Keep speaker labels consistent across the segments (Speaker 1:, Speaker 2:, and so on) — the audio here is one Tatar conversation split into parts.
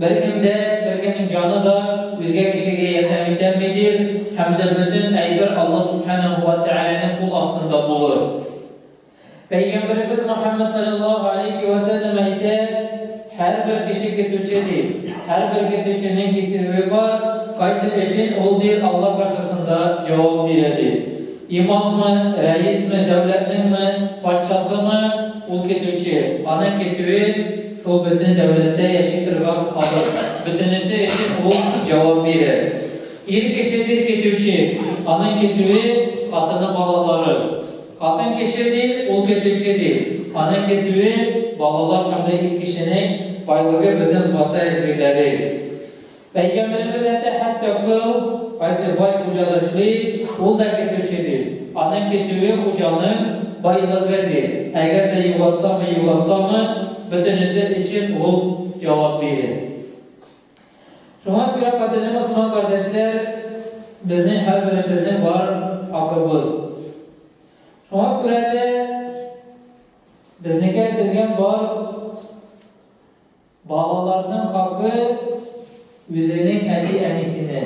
Speaker 1: Бәлкем дә, беркемнең җаны да үзгә кешегә ярдәм итәлмидер һәм дә бөтен әйбер Алла Сүбхәнәһү вә Тәгаләнең кул астында булыр. Пәйгамбәребез Мөхәммәд салләллаһу алейһи вә сәлләм әйтә, Һәрбер кеше көтүче, ди. Һәрбер көтүченең көтүе бар, кайсы өчен ул, ди, Алла каршысында җавап бирә, ди. Имаммы, рәисме, дәүләтнеңме, патшасымы, ул көтүче, аның көтүе, Ул бөтен дәүләттә яши торган халык, бөтенесе өчен ул җавап бирер. Ир кеше бит көтүче, аның көтүе, хатыны, балалары. Хатын кеше бит ул көтүче бит, аның көтүе, балалар һәм дә ир кешенең байлыгы бөтен социаль биреләде. Пәйгамбәребез әйтә, Хәтта кол, кайсы бай хуҗада эшли, ул да кертүче, ди. Аның кертүе, хуҗаның байлыгы, ди. Әгәр дә югалтсамы, югалтсамы, бөтенесе өчен ул җавап бирер. Шуңа күрә, кадерле мөселман кардәшләр, безнең һәрберебезнең бар хакыбыз. Шуңа күрә дә безнекә әйтелгән бар Балаларның хакы үзенең әти-әнисенә.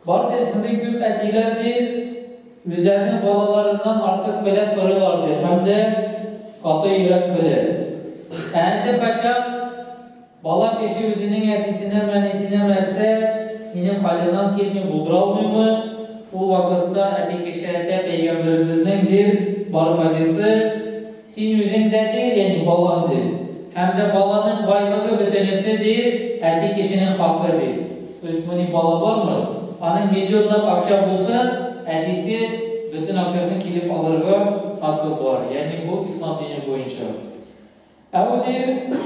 Speaker 1: Бардыр шундый күп әтиләр ди, үзләренең балаларыннан артык белә сорыйлар ди, һәм дә каты йөрәк белә. Ә инде качан бала кеше үзенең әтисенәме, әнисенәме әйтсә, минем хәлемнән килми, булдыра алмыймы, ул вакытта әти кеше әйтә, пәйгамбәребезнең, дир, бар хадисы, Син үзең дә бир инде, балам, ди. Һәм дә баланың байлыгы бөтенесе, ди, әти кешенең хакы, ди. То есть мони бала бармы, аның миллионлап акча булса, әтисе бөтен акчасын килеп алырга хакы бар. Ягъни бу ислам дине буенча. Ә ул, ди,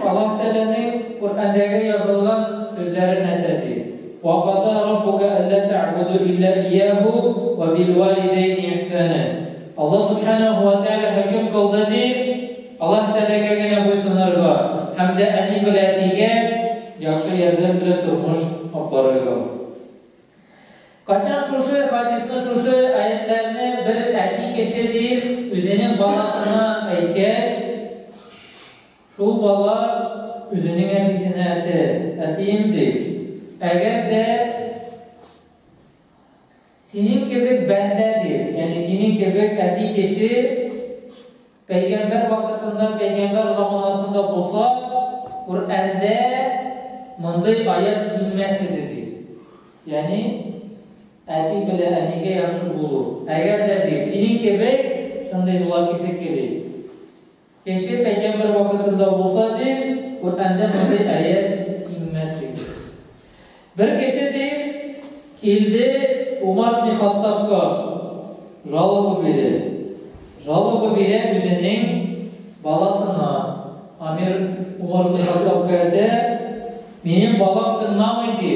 Speaker 1: Аллаһ Тәгаләнең Коръәндәге язылган сүзләрен әйтә, ди, Ва када раббука әллә тәгъбуду илля ияһу ва бил валидәйни ихсана. Аллаһ Сүбхәнәһү вә Тәгалә хөкем кылды дип, Аллаһ Тәгаләгә генә буйсынырга һәм дә әни белә әтигә яхшы ярдәм белән тормыш алып барырга. Кайчан шушы хадисны, шушы аятьләрне бер әти кеше дип үзенең баласына әйткәч, шул бала үзенең әтисенә әтә, әтием ди. Әгәр дә. Синең кебек бәндә бир, ягъни синең кебек әти кеше пәйгамбәр вакытында, пәйгамбәр заманасында булса, Коръәндә мондый аять инмәс иде, ди. Ягъни әти белән әнигә яхшы булу. Әгәр дә, ди, синең кебек шундый була кисе кеби. Кеше кайбер бер вакытында булса, ди, Коръәндә мондый аять киңмәс иде. Бер кеше, ди, килде Умар ибн Хаттабка жалоба бирде. Жалоба бирә үзенең баласына. Амир Умар ибн Хаттабка әйтә, Минем балам тыңламый, ди.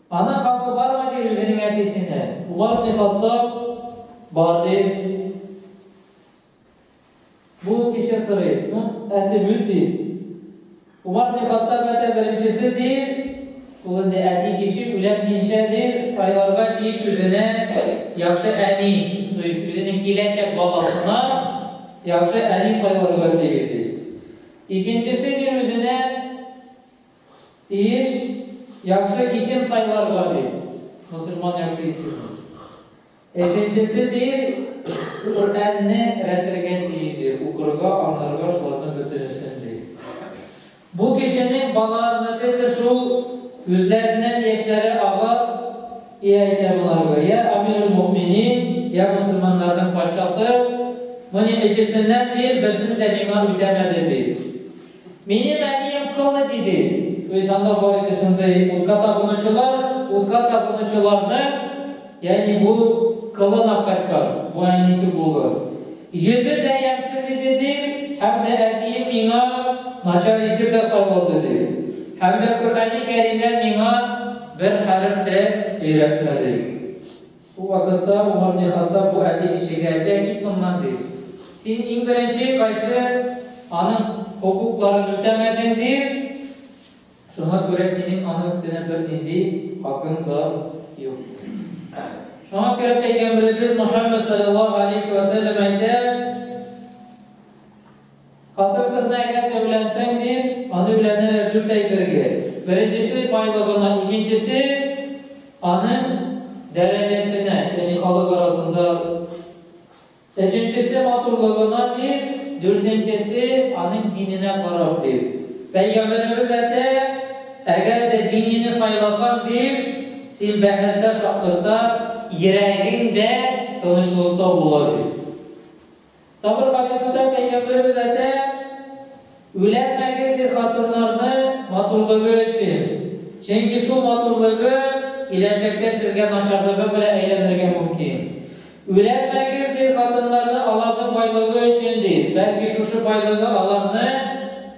Speaker 1: Ана хакы бармы ди үзенең әтисенә? Умар ибне Хаттаб, Бар, ди. Бу ул кеше сорый. Ну, әти бит, ди. Умар ибне Хаттаб әтә беренчесе, ди. Ул инде әти кеше, үләм динчә, ди, сайларга тиеш үзенә яхшы әни, то есть үзенең киләчәк баласына яхшы әни сайларга тиеш, ди. Икенчесе, ди, үзенә Тиеш яхшы исем сайларга, ди мөселман яхшы исемне. Өченчесе, ди, Коръәнне рәтергә тиеш, ди, укырга, аңларга, шуларның бөтенесен, ди. Бу кешенең балаларыныкы да шул, күзләреннән яшьләре ага, и әйтә боларга, йә Амирулмөэминин, йә мөселманнарның патшасы, менә өчесеннән, ди, берсен дә миңа үтәмәде, ди. Минем әнием кылы диде. Үз анда бар иде шундый утка табынучылар, утка табынучыларның, ягъни бу кылын апкайткан, бу әнисе булыр. Йөзе дә ямьсез иде, ди, һәм дә әтием миңа начар исем дә салмады, ди. Һәм дә Коръәни Кәримнән миңа бер хәреф тә өйрәтмәде. Шул вакытта Умар бни Хаттаб бу әти кешегә, Әйдә, кит моннан, ди. Син иң беренче кайсы аның хокукларын үтәмәдең, ди. Шуңа күрә синең аның өстенә бернинди хакың да юк. Шуңа күрә Пәйгамбәребез Мөхәммәд саллаллаһу алейхи вә сәлләм әйтә, Хатын-кызны әгәр дә өйләнсәң, ди, аны өйләнәләр дүрт әй бергә. Беренчесе, байлыгына, икенчесе, аның дәрәҗәсенә, яни халык арасында, өченчесе, матурлыгына, ди, дүртенчесе, аның диненә карап, ди. Пәйгамбәребез әйтә, Әгәр дә динине сайласаң, ди, син бәхеттә, шатлыкта, йөрәгең дә тынычлыкта була, ди. Табыр хадисында Пәйгамбәребез әйтә, Үләнмәгез, ди, хатыннарны матурлыгы өчен, чөнки шул матурлыгы киләчәктә сезгә начарлыгы белән әйләнергә мөмкин. Үләнмәгез, ди, хатыннарны аларның байлыгы өчен, ди, бәлки шушы байлыгы аларны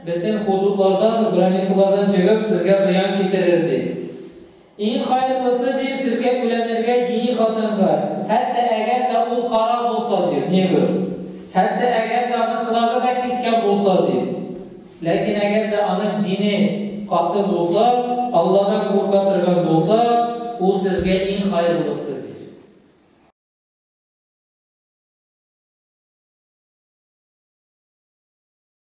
Speaker 1: бөтен худудлардан, границалардан чыгып, сезгә зыян китерер, ди. Иң хайырлысы, дир, сезгә бүләнергә дини хатынга, хәтта әгәр дә ул кара булса, дир, негр, хәтта әгәр дә аның колагы да кискән булса, дир. Ләкин әгәр дә аның дине каты булса, Алладан курка торган булса, ул сезгә иң хайырлысы, дир.